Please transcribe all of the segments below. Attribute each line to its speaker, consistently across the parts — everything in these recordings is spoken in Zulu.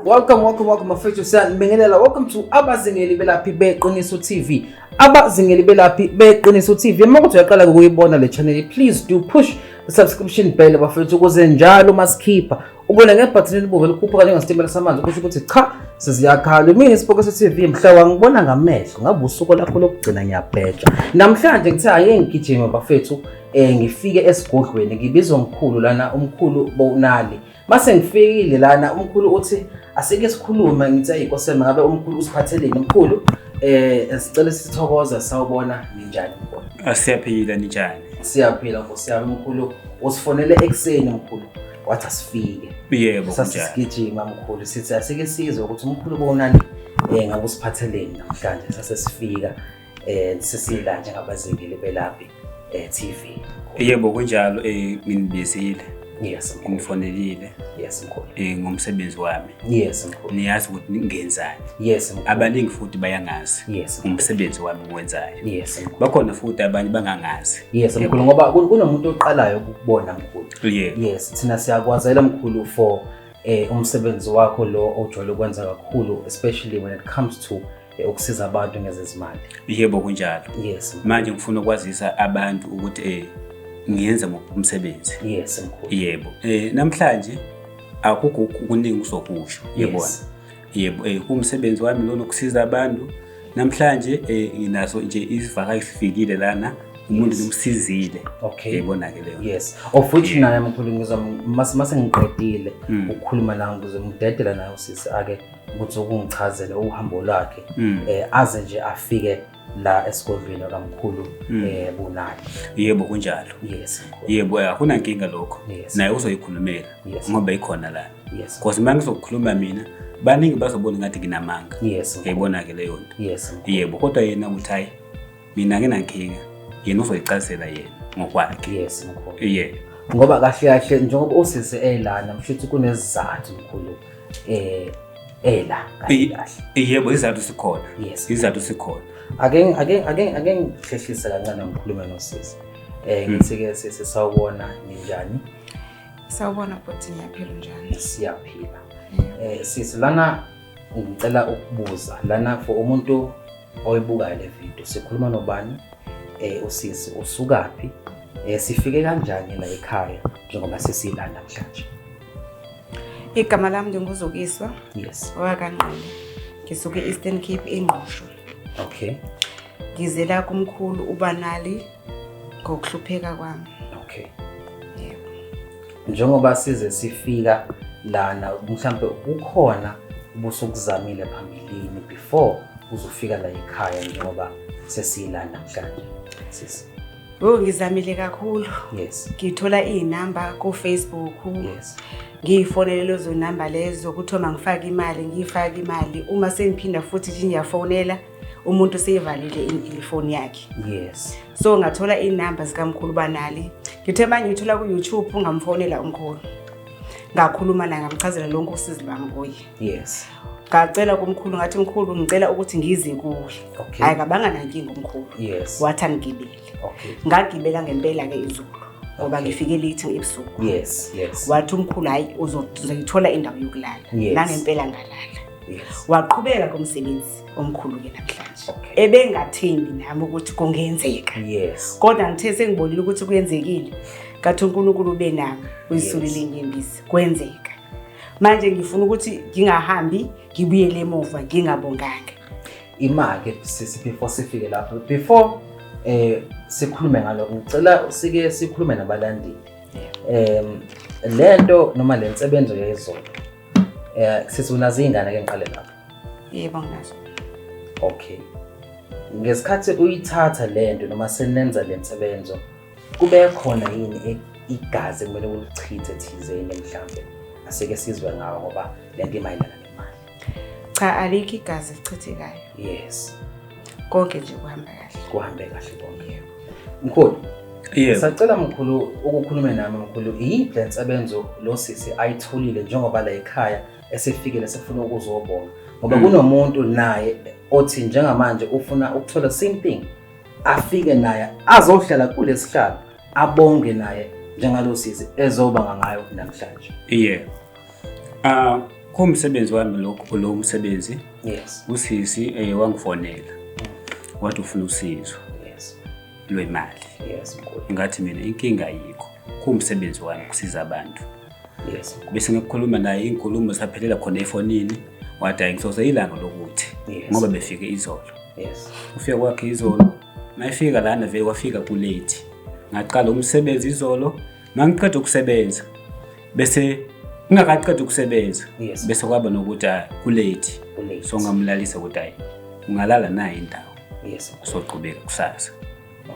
Speaker 1: Welcome, welcome, welcome, mafethu siyanibingelela. Welcome to Abazingeli Belaphi Beqiniso TV. Abazingeli Belaphi Beqiniso TV. Uma kuthi uyaqala ukuyibona le channel, please do push the subscription bell bafethu ukuze njalo masikhipha ubona ngebhathini elibomvu elikhuphuka njengesitimela samanzi kusho ukuthi cha seziyakhala mina isipoke se-tv mhla wangibona ngamehlo ngabe usuku lakho lokugcina ngiyabheja namhlanje ngithe aye ngigijime bafethu um ngifike esigodlweni ngibizwa mkhulu lana umkhulu bonali mase ngifikile lana umkhulu uthi asike sikhulume ngithe ayikosema ngabe umkhulu usiphatheleni umkhulu um sicele sithokoza sawubona ninjani asiyaphila ninjani
Speaker 2: siyaphila nkosi
Speaker 1: yami mkhulu usifonele ekuseni mkhulu wathi asifike yebo
Speaker 2: sasigijima
Speaker 1: mkhulu sithi asike sizwe ukuthi umkhulu konani um ngabe usiphatheleni namhlanje sase sifika um sesila njengabazingeli belaphi um eh, t v yebo
Speaker 2: kunjalo um nginibizile yes
Speaker 1: ngifonelile yes
Speaker 2: mkhulu
Speaker 1: eh ngomsebenzi wami
Speaker 2: yes mkhulu niyazi
Speaker 1: ukuthi ngenzani
Speaker 2: yes mkhulu abaningi
Speaker 1: futhi bayangazi
Speaker 2: yes umsebenzi
Speaker 1: wami
Speaker 2: ngwenzayo yes mkhulu bakhona
Speaker 1: futhi abanye
Speaker 2: bangangazi yes mkhulu ngoba
Speaker 1: kunomuntu oqalayo ukubona mkhulu yeah. yes thina siyakwazela mkhulu for eh umsebenzi wakho lo ojwayele ukwenza kakhulu especially when it comes to eh, ukusiza abantu ngezezimali yebo kunjalo
Speaker 2: yes manje ngifuna
Speaker 1: ukwazisa
Speaker 2: abantu ukuthi eh ngiyenza umsebenzi yes mkhulu
Speaker 1: yebo eh
Speaker 2: namhlanje akukho kuningi usokusho yebona yes. Yebo, eh, kuwumsebenzi wami lona ukusiza abantu. Namhlanje eh, nginaso nje isivakashi sifikile lana umuntu ngimsizile. Okay. Yayibona-ke
Speaker 1: leyo nto. Yes.
Speaker 2: Of which Yeah. naye
Speaker 1: mkhulu ngizwa mase mase ngiqedile Mm. ukukhuluma nawe ngize ngidedela naye usisi ake ukuthi ukungichazele uhambo lwakhe Mm. eh aze nje afike la esigodlweni kamkhulu mm. eh bunaki yebo kunjalo
Speaker 2: yes yebo
Speaker 1: eh, akuna nkinga
Speaker 2: lokho naye uzoyikhulumela ngoba ikhona la yes because manje
Speaker 1: ngizokhuluma
Speaker 2: mina baningi bazobona ngathi nginamanga yes uyayibona ke
Speaker 1: leyo nto
Speaker 2: yes yebo kodwa
Speaker 1: yena uthi hayi
Speaker 2: mina nginankinga yena uzoyicazela yena ngokwakhe yes mkhulu
Speaker 1: yeah ngoba
Speaker 2: kahle kahle
Speaker 1: njengoba usisi elana mshuthi kunezizathu mkhulu eh ela kahle kahle yebo izathu
Speaker 2: sikhona yes izathu sikhona ake
Speaker 1: ake ake ake ngihlehlise kancane ngikhulume nosisi eh hmm. ngithi ke sisi sawubona ninjani sawubona
Speaker 3: bhuti ngiyaphila njani siyaphila
Speaker 1: eh sisi lana ngicela ukubuza lana for umuntu oyibukayo le video sikhuluma nobani eh usisi usukaphi eh sifike kanjani la ekhaya njengoba sesilanda namhlanje
Speaker 3: Igama lami nginguzukiswa. Yes.
Speaker 1: Wakanqono.
Speaker 3: Ngisuke Eastern Cape ingqosho. Okay.
Speaker 1: Ngizela
Speaker 3: kumkhulu ubanali ngokuhlupheka kwami. Okay.
Speaker 1: Yebo.
Speaker 3: Njengoba
Speaker 1: size sifika lana mhlambe kukhona ubusukuzamile phambilini before uzofika la ekhaya njengoba sesiyilana namhlanje. Sisi. Oh ngizamile
Speaker 3: kakhulu. Yes. Ngithola
Speaker 1: izinamba
Speaker 3: ku Facebook. Yes.
Speaker 1: Ngiyifonele
Speaker 3: lezo number lezo ukuthi uma ngifaka imali ngiyifaka imali uma sengiphinda futhi nje ngiyafonela umuntu seyivalile ifoni yakhe. Yes. So
Speaker 1: ngathola
Speaker 3: izinamba zikamkhulu banali. Ngithe manje ngithola ku YouTube ungamfonela umkhulu. Ngakhuluma naye ngamchazela lonke usizi lwami kuye. Yes.
Speaker 1: ngacela
Speaker 3: kumkhulu ngathi mkhulu ngicela ukuthi ngize kuwe okay. hayi kabanga
Speaker 1: nankinga
Speaker 3: umkhulu yes. wathi
Speaker 1: angigibele
Speaker 3: okay. ngagibela
Speaker 1: ngempela-ke
Speaker 3: izulu ngoba okay. ngifike late ebusuku yes, yes. wathi
Speaker 1: umkhulu hhayi
Speaker 3: uzoyithola indawo yokulala yes. nangempela ngalala yes. waqhubeka
Speaker 1: komsebenzi
Speaker 3: omkhulu-ke namhlanje okay. ebengathembi
Speaker 1: nami
Speaker 3: ukuthi kungenzeka yes. kodwa
Speaker 1: ngithe sengibonile
Speaker 3: ukuthi kuyenzekile kathi unkulunkulu ubenami uyisulile yes. inyembisi kwenzeka manje ngifuna ukuthi ngingahambi ngibuyele emuva ngingabonganga imake
Speaker 1: sisi before sifike lapho before eh sikhulume ngaloko ngicela usike sikhulume nabalandeli em lento noma le nsebenzo yezolo eh sisi unazo izingane ke ngiqale lapho yebo nginazo
Speaker 3: okay
Speaker 1: ngesikhathi uyithatha lento noma senenza le nsebenzo Kube khona yini e- igazi kumele ulichithe thizeni mhlambe asike sizwe ngawo ngoba le nto imayelana nemali Cha alikho
Speaker 3: igazi elichithekayo. yes
Speaker 1: Konke
Speaker 3: nje kuhamba kahle. kuhambe kahle konke
Speaker 1: mkhulu Yebo. sacela
Speaker 2: mkhulu
Speaker 1: ukukhulume nami mkhulu iyiphi le nsebenzo lo sisi ayitholile njengoba la ekhaya esefikile sefuna ukuzobonga ngoba Mm. kunomuntu naye othi njengamanje ufuna ukuthola same thing afike naye azohlala kulesihlalo abonge naye njengalosisi ezoba ngangayo namhlanje yeah ah uh,
Speaker 2: kumsebenzi wami lokho lo msebenzi yes usisi
Speaker 1: eh
Speaker 2: wangifonela wathi ufuna usizo yes
Speaker 1: lwemali
Speaker 2: yes mkhulu
Speaker 1: ngathi mina inkinga
Speaker 2: yikho kumsebenzi wami kusiza abantu yes
Speaker 1: bese ngikhuluma
Speaker 2: naye inkulumo saphelela khona efonini wathi hayi ngisoze ilanga lokuthi Yes. ngoba befike izolo yes ufika
Speaker 1: kwakhe
Speaker 2: izolo mayefika lana vele wafika kulate ngaqala umsebenzi izolo mangiqeda ukusebenza bese ngingakaqeda ukusebenza Yes. bese kwaba nokuthi ah, kulate Kulate. so ngamlalisa ukuthi hayi ungalala naye indawo yes soqhubeka
Speaker 1: kusasa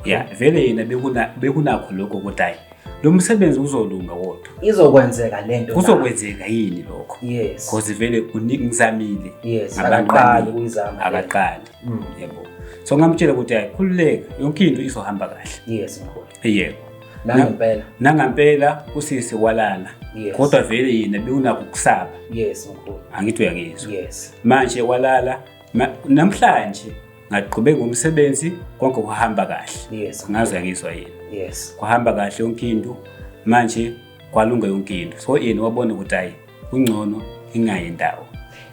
Speaker 2: ya vele yena bekuna- bekunakho lokho ukuthi hhayi lo msebenzi uzolunga wodwa izokwenzeka le nto
Speaker 1: kuzokwenzeka yini
Speaker 2: lokho yes because vele
Speaker 1: uningi
Speaker 2: ngizamile yes Abantu akaqali
Speaker 1: baningi. kuyizama akaqali
Speaker 2: Mm. yebo so ngamtshela ukuthi hhayi khululeka yonke into izohamba kahle yes mkhulu yebo nangempela nangampela
Speaker 1: usisi walala
Speaker 2: Yes. kodwa vele yena bekunakho ukusaba yes mkhulu
Speaker 1: angithi uyangizwa
Speaker 2: yes manje
Speaker 1: walala
Speaker 2: ma- namhlanje ngaqhubeka umsebenzi konke kuhamba kahle yes ngaze ngizwa
Speaker 1: yini
Speaker 2: yes kuhamba kahle
Speaker 1: yonke
Speaker 2: into manje kwalunga yonke into so yena wabona ukuthi hayi kungcono ingayi ndawo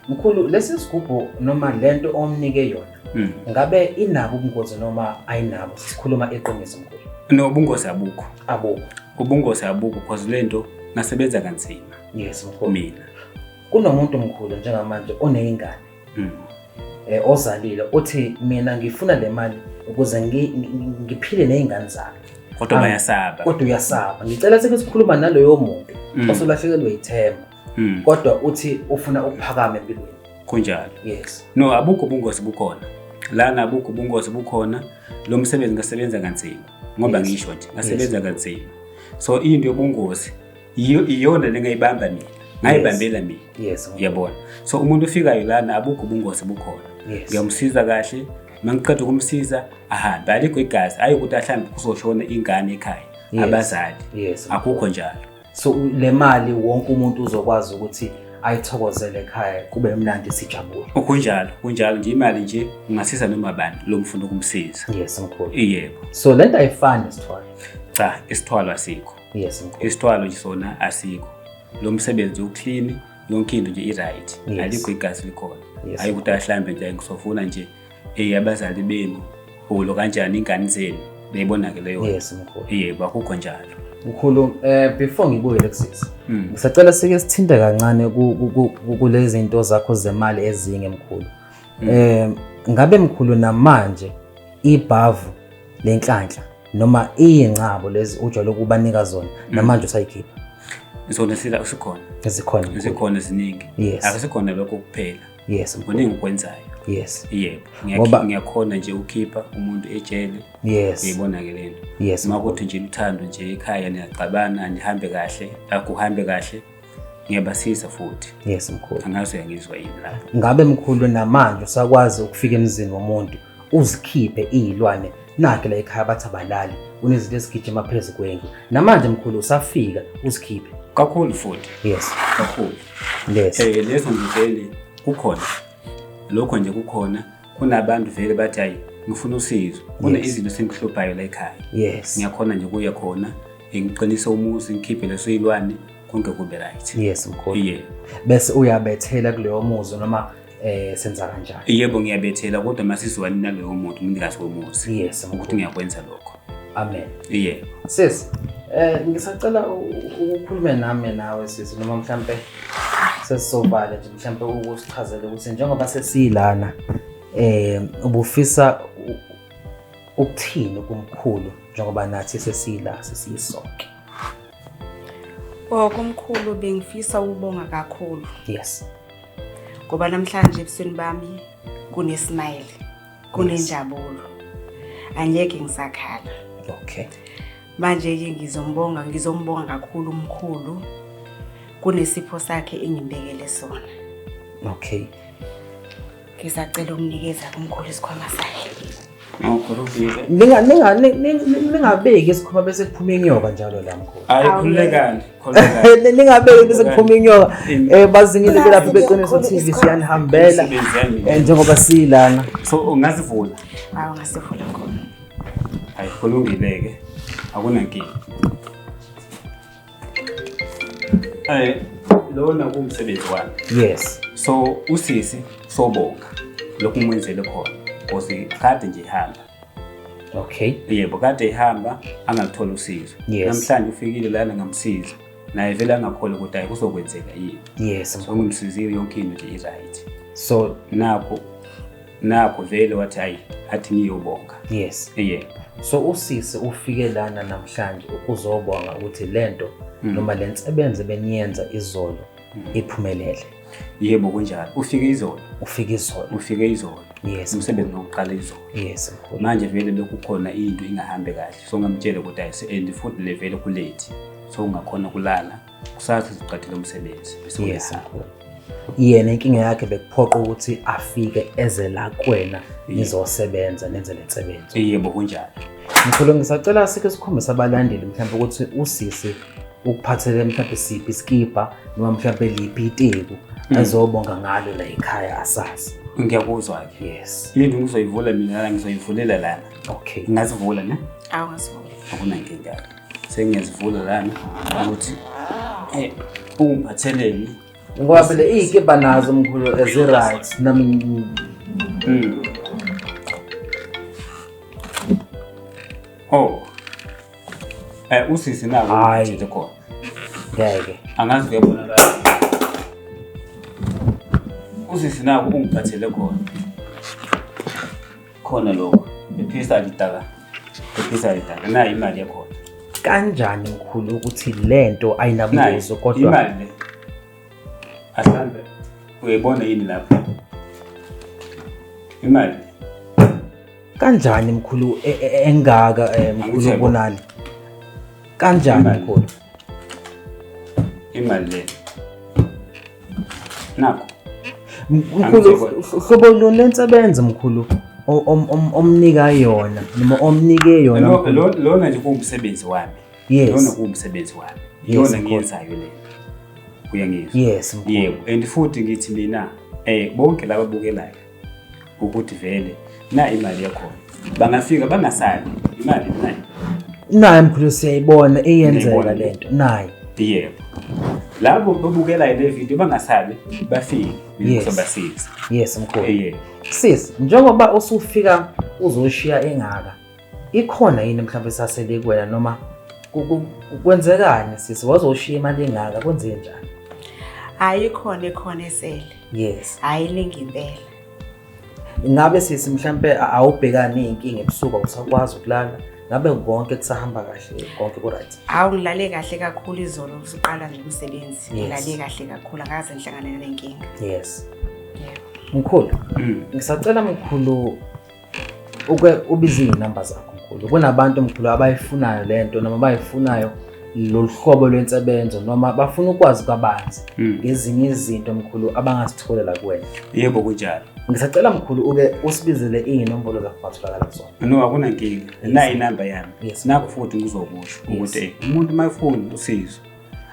Speaker 2: mkhulu lesi
Speaker 1: sigubhu noma lento omnike yona hmm. ngabe inabo ubungozi noma ayinabo sikhuluma eqiniso mkhulu no ubungozi abukho
Speaker 2: abukho
Speaker 1: ubungozi abukho
Speaker 2: because lento nasebenza kanzima yes mkhulu mina kunomuntu
Speaker 1: mkhulu njengamanje oneyingane mm. eh, ozalile uthi mina ngifuna le mali ukuze ngiphile nezingane zami kodwa bayasaba
Speaker 2: kodwa uyasaba
Speaker 1: ngicela sike sikhuluma naloyo muntu mm. osolahlekelwe ithemba mm. kodwa uthi ufuna ukuphakama empilweni kunjalo yes
Speaker 2: no
Speaker 1: abukho ubungozi
Speaker 2: bukhona lana abukho ubungozi bukhona lo msebenzi ngasebenza kanzima ngoba ngisho nje ngasebenza kanzima so into yobungozi iyona le ngayibamba mina ngayibambela mina yes yabona
Speaker 1: so umuntu
Speaker 2: ufikayo lana abukho ubungozi bukhona ngiyamsiza kahle mangiqeda ukumsiza ahambe alikho igazi ayi ukuthi ahlambe kuzoshona ingane ekhaya abazali akukho njalo so le
Speaker 1: mali wonke umuntu uzokwazi ukuthi ayithokozele ekhaya kube mnandi sijabule kunjalo kunjalo
Speaker 2: nje imali nje ungasiza noma bani lo mfuna ukumsiza yes mkhulu
Speaker 1: yebo so lento
Speaker 2: ayifani
Speaker 1: isithwalo cha isithwalo
Speaker 2: asikho yes mkhulu isithwalo
Speaker 1: nje sona
Speaker 2: asikho lo msebenzi uclean yonke into nje i-right Yes. alikho igazi likhona Yes, hayi ukuthi ahlambe nje ngisofuna nje eyi abazali benu ulo kanjani ingane zenu beyibona ke leyo yes mkhulu yebo
Speaker 1: akukho njalo
Speaker 2: mkhulu
Speaker 1: eh before ngibuyele kusisi Mm. ngisacela sike sithinte kancane ku- ku- ku- ku- kulezi zinto zakho zemali ezinye mkhulu eh ngabe mkhulu namanje ibhavu lenhlanhla noma iyingcabo lezi ujwayele ukubanika zona mm. namanje usayikhipha zona sila
Speaker 2: usikhona ezikhona ezikhona eziningi yes. akusikhona lokho kuphela yes kuningi
Speaker 1: ukwenzayo
Speaker 2: yes yebo
Speaker 1: ngoba
Speaker 2: ngiyakhona nje ukhipha umuntu ejele yes uyibona
Speaker 1: ke lento
Speaker 2: yes makuthi nje
Speaker 1: uthando
Speaker 2: nje ekhaya niyaxabana nihambe kahle akuhambe kahle ngiyabasiza futhi yes mkhulu angazi
Speaker 1: uyangizwa yini
Speaker 2: lapho ngabe mkhulu
Speaker 1: namanje usakwazi ukufika emzini womuntu uzikhiphe iyilwane nakhe la ekhaya bathi abalali unezinto ezigijima phezu kwendlu namanje mkhulu usafika uzikhiphe kakhulu futhi
Speaker 2: yes kakhulu yes eh
Speaker 1: lezo ngivele
Speaker 2: kukhona lokho nje kukhona kunabantu vele bathi ayi ngifuna usizo kune izinto sengihluphayo la ekhaya yes ngiyakhona nje
Speaker 1: kuya khona
Speaker 2: ngiqinise umuzi ngikhiphe leso ilwane konke kube right yes mkhulu yeah
Speaker 1: bese
Speaker 2: uyabethela
Speaker 1: kuleyo muzi noma eh senza kanjani yebo ngiyabethela
Speaker 2: kodwa masizwani naleyo muntu umnikazi womuzi yes ukuthi ngiyakwenza
Speaker 1: lokho
Speaker 2: amen
Speaker 1: yeah
Speaker 2: sis
Speaker 1: eh ngisacela ukukhuluma nami nawe sis noma mhlambe sesisobala nje mhlambe ukusichazela ukuthi njengoba sesilana eh ubufisa ukuthini kumkhulu njengoba nathi sesila sesiyisonke Oh
Speaker 3: kumkhulu bengifisa ukubonga kakhulu yes
Speaker 1: ngoba
Speaker 3: namhlanje ebusweni bami kunesmile kunenjabulo angeke ngisakhala okay
Speaker 1: manje
Speaker 3: ke ngizombonga ngizombonga kakhulu umkhulu kunesipho sakhe engimbekele sona okay Ngisacela
Speaker 2: ukunikeza kumkhulu isikhwama
Speaker 1: sakhe. Ningabeki isikhwama bese kuphuma inyoka njalo la mkhulu. Hayi khululekani. Ningabeki bese kuphuma inyoka. Eh bazingile belaphi beqiniso TV siyanihambela. Eh, njengoba silana. So ungazivula.
Speaker 2: Hayi ungasivula
Speaker 3: khona. Hayi
Speaker 2: kulungile ke. Akunankinga. Eh lona kumsebenzi wami. Yes. So
Speaker 1: usisi
Speaker 2: sobonga lokhu ngimenzele khona because kade nje ihamba. Okay.
Speaker 1: Yebo kade
Speaker 2: ihamba angaluthola usizo. Yes. Namhlanje ufikile
Speaker 1: lana
Speaker 2: ngamsiza. Naye vele angakhole ukuthi ayi kuzokwenzeka yini. Yes. So ngimsizile
Speaker 1: yonke
Speaker 2: into nje i-right. So
Speaker 1: nakho
Speaker 2: nakho vele wathi hayi athi ngiyobonga yes yeah
Speaker 1: so
Speaker 2: usisi
Speaker 1: ufike lana namhlanje ukuzobonga ukuthi lento mm. noma lensebenze beniyenza izolo mm. iphumelele yebo
Speaker 2: kunjalo ufike izolo ufike izolo ufike izolo yes umsebenzi
Speaker 1: wokuqala
Speaker 2: izolo yes manje
Speaker 1: vele lokhu
Speaker 2: khona into ingahambe kahle so ngamtshela ukuthi ayise and futhi le vele kulate so ungakhona kulala kusasa siqathile umsebenzi besingesakhona
Speaker 1: yena inkinga yakhe bekuphoqa ukuthi afike eze la kwena nizosebenza nenze le nsebenzo yebo kunjalo
Speaker 2: mkhulu ngisacela
Speaker 1: sike sikhombise abalandeli mhlawumbe ukuthi usisi ukuphathele mhlawumbe siphi isikibha noma mhlawumbe liphi iteku mm. azobonga ngalo la ekhaya asazi ngiyakuzwa ke
Speaker 2: yes yini ngizoyivula mina ngizoyivulela lana okay ngazivula
Speaker 1: ne
Speaker 2: awazivula
Speaker 3: akunankinga
Speaker 2: sengiyazivula lana ukuthi eh, ungiphatheleni ngoba phela
Speaker 1: iy'kebha nazo mkhulu ezi-right nami mm.
Speaker 2: oh eh usisi nako ngithethe khona ngeke
Speaker 1: angazi kuyabonakala
Speaker 2: usisi nako ungiphathele khona Khona lokho. Phephisa lidala. Phephisa lidala. Nayi imali yakhona. Kanjani
Speaker 1: mkhulu ukuthi lento ayinabuzo kodwa imali le.
Speaker 2: Asambe. Uyibona yini lapha? Imali.
Speaker 1: Kanjani mkhulu e, e, engaka eh, mkhulu ubonani? Kanjani mkhulu?
Speaker 2: imali le nakho
Speaker 1: mkhulu hlobo lona lensebenza mkhulu omnika yona noma omnike yona lona nje
Speaker 2: kuwumsebenzi wami yes lona kuwumsebenzi wami yona ngiyenzayo le uyangizwa yes yebo
Speaker 1: and futhi ngithi
Speaker 2: mina eh bonke laba bukelayo ukuthi vele na imali yakhona bangafika bangasali imali nayo naye mkhulu
Speaker 1: siyayibona eyenzeka le nto naye yebo
Speaker 2: labo babukelayo le video bangasali bafike ngizobasiza yes mkhulu
Speaker 1: yebo sis
Speaker 2: njengoba
Speaker 1: usufika uzoshiya engaka Ikhona yini mhlawumbe esasele kuwena noma kwenzekani sisi waze ushiye imali engaka kwenze njani? Hayi
Speaker 3: khona ekhona esele. Yes. Hayi
Speaker 1: lingi impela. Ngabe sisi mhlambe awubhekani inkinga ebusuku usakwazi ukulala? Ngabe konke kusahamba kahle konke ku right? Awu ngilale kahle
Speaker 3: kakhulu izolo usuqala nje umsebenzi. Ngilale kahle kakhulu
Speaker 1: akaze
Speaker 3: ngihlangane nenkinga. Yes.
Speaker 1: Yeah.
Speaker 3: Mkhulu,
Speaker 1: mm. ngisacela mkhulu uke ubize iy'namba zakho mkhulu kunabantu mkhulu abayifunayo le nto noma bayifunayo lolu hlobo lwensebenzo noma bafuna ukwazi kabanzi hmm. ngezinye izinto mkhulu abangazitholela kuwena yebo kunjalo
Speaker 2: ngisacela mkhulu
Speaker 1: uke usibizele iy'nombolo zakho ungatholakala kuzona no akunankinga
Speaker 2: nayi inamba yami nakho futhi
Speaker 1: ngizokusho
Speaker 2: ukuthi umuntu uma efuni usizo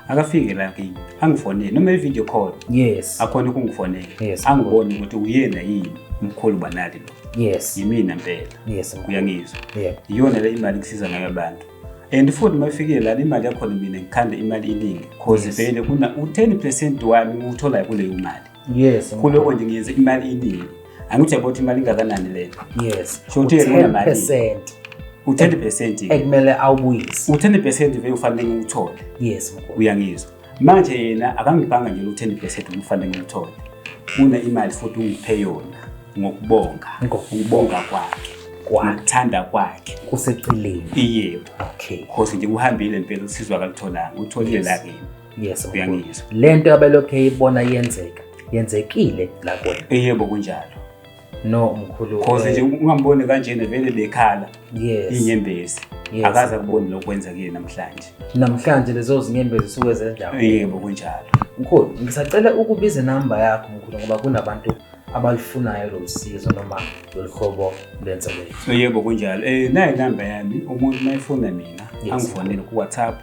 Speaker 2: akafike la kimi angifonele noma i-video call yes akhona
Speaker 1: ukungifonela
Speaker 2: yes. angibone ukuthi
Speaker 1: uyena
Speaker 2: yini umkhulu banali lo yes yimina mpela
Speaker 1: yes
Speaker 2: uyangizwa yeah. iyona le
Speaker 1: imali kusiza
Speaker 2: ngayo abantu and futhi uma ifikile lana imali yakhona mina ngikhanda imali iningi cause yes. vele kuna u-ten percent wami ngiwutholayo kuleyo mali yes kuloko
Speaker 1: nje ngiyenze
Speaker 2: imali iningi angithi yabo ukuthi imali ingakanani lena yes so uthi
Speaker 1: yena
Speaker 2: mali
Speaker 1: percent u10 percent
Speaker 2: ekumele
Speaker 1: awubuyise u10 percent vele ufanele
Speaker 2: ngikuthole yes mkhulu
Speaker 1: uyangizwa manje
Speaker 2: yena akangibhanga nje u10 percent ufanele ngikuthole une imali futhi ungiphe yona ngokubonga ngokubonga kwakhe kwathanda kwakhe kuseceleni
Speaker 1: yebo
Speaker 2: okay khosi nje
Speaker 1: kuhambile
Speaker 2: impela usizwa kalutholanga utholile la kimi yes of course. uyangizwa
Speaker 1: le nto
Speaker 2: abelokhu
Speaker 1: eyibona yenzeka yenzekile la kuwena Eh, yebo kunjalo
Speaker 2: no
Speaker 1: mkhulu cause eh, nje ungamboni
Speaker 2: kanjena vele bekhala yes inyembezi
Speaker 1: Yes.
Speaker 2: akaze akuboni lokhu kwenza kuye namhlanje namhlanje lezo
Speaker 1: zinyembezi zisuke zendawo Eh, yebo kunjalo
Speaker 2: mkhulu ngisacela
Speaker 1: ukubiza inamba yakho mkhulu ngoba kunabantu abalufunayo lolu sizo noma lolu hlobo lwensebenzo Eh, yebo kunjalo
Speaker 2: um nayo inamba yami umuntu mayefuna mina Yes. angifonele kuwhatsapp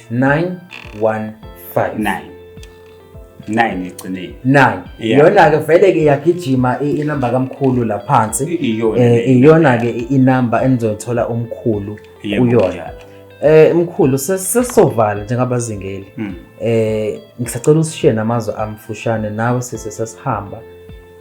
Speaker 2: 915 9 egcineni 9 iyona
Speaker 1: ke vele
Speaker 2: ke
Speaker 1: yagijima inamba kamkhulu la phansi iyona eh, ke inamba enizothola umkhulu kuyona eh mkhulu sesisovala njengabazingeli hmm. eh ngisacela usishiye namazwi amfushane nawe sise sesihamba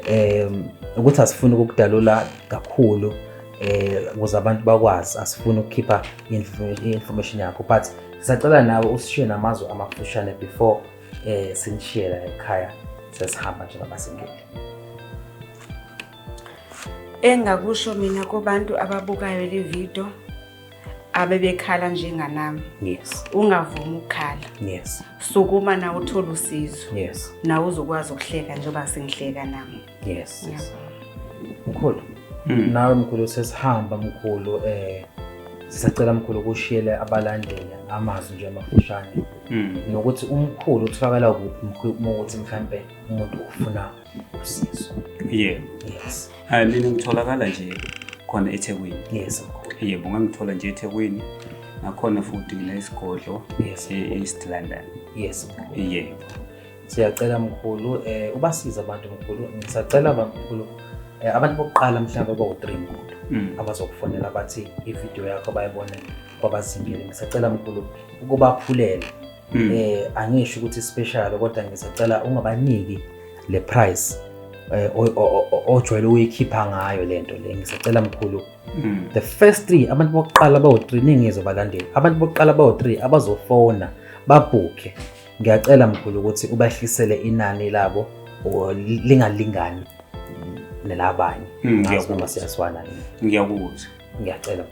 Speaker 1: um ukuthi asifuni ukukudalula kakhulu eh ukuze abantu bakwazi asifuni ukukhipha i-information yakho but sisacela nawe usishiye namazwi amafushane before eh sinishiye la ekhaya sesihamba njengabasingeli
Speaker 3: engakusho mina kubantu ababukayo le video abebekhala njenganami yes ungavumi
Speaker 1: ukukhala
Speaker 3: yes sukuma
Speaker 1: nawe
Speaker 3: uthole usizo yes nawe
Speaker 1: uzokwazi
Speaker 3: ukuhleka njengoba sengihleka nami yes
Speaker 1: yeah. mkhulu mm. nawe mkhulu sesihamba mkhulu eh sisacela mkhulu ukushiyele abalandeli amazwi nje amafushane mm. nokuthi umkhulu utholakala kuphi mkhulu ukuthi mhlambe umuntu ufuna usizo yeah
Speaker 2: yes hayi
Speaker 1: mina ngitholakala
Speaker 2: nje khona eThekwini yes yebo
Speaker 1: ngangithola nje
Speaker 2: eThekwini nakhona futhi ngile isigodlo yes e-East London yes
Speaker 1: yebo
Speaker 2: siyacela
Speaker 1: mkhulu eh ubasiza abantu mkhulu ngisacela bamkhulu eh, abantu bokuqala mhlawumbe bawu-3 mkhulu mm. abazokufonela bathi ividiyo yakho bayibone kwabazingile ngisacela mkhulu ukubaphulela mm. eh angisho ukuthi special kodwa ngisacela ungabaniki le price eh ojwayele uyikhipha ngayo lento le ngisacela mkhulu mm. the first three abantu bokuqala bawu3 ningizo balandeli abantu bokuqala bawu3 abazofona babhukhe ngiyacela mkhulu ukuthi ubahlisele inani labo lingalingani nelabanye hmm, noma siyaswana ngiyakuzwa
Speaker 2: ngiyacela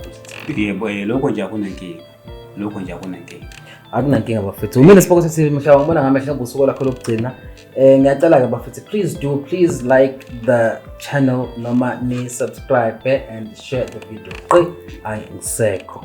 Speaker 2: bhuti
Speaker 1: yebo eh, lokho nje
Speaker 2: akunankinga lokho nje akunankinga akunankinga bafethu
Speaker 1: umile siboko sithi mhla wangibona ngamehla ngosuku lakho lokugcina um ngiyacela-ke bafethu please do please like the channel noma ni-subscribe eh, and share the video qi ayi ngisekho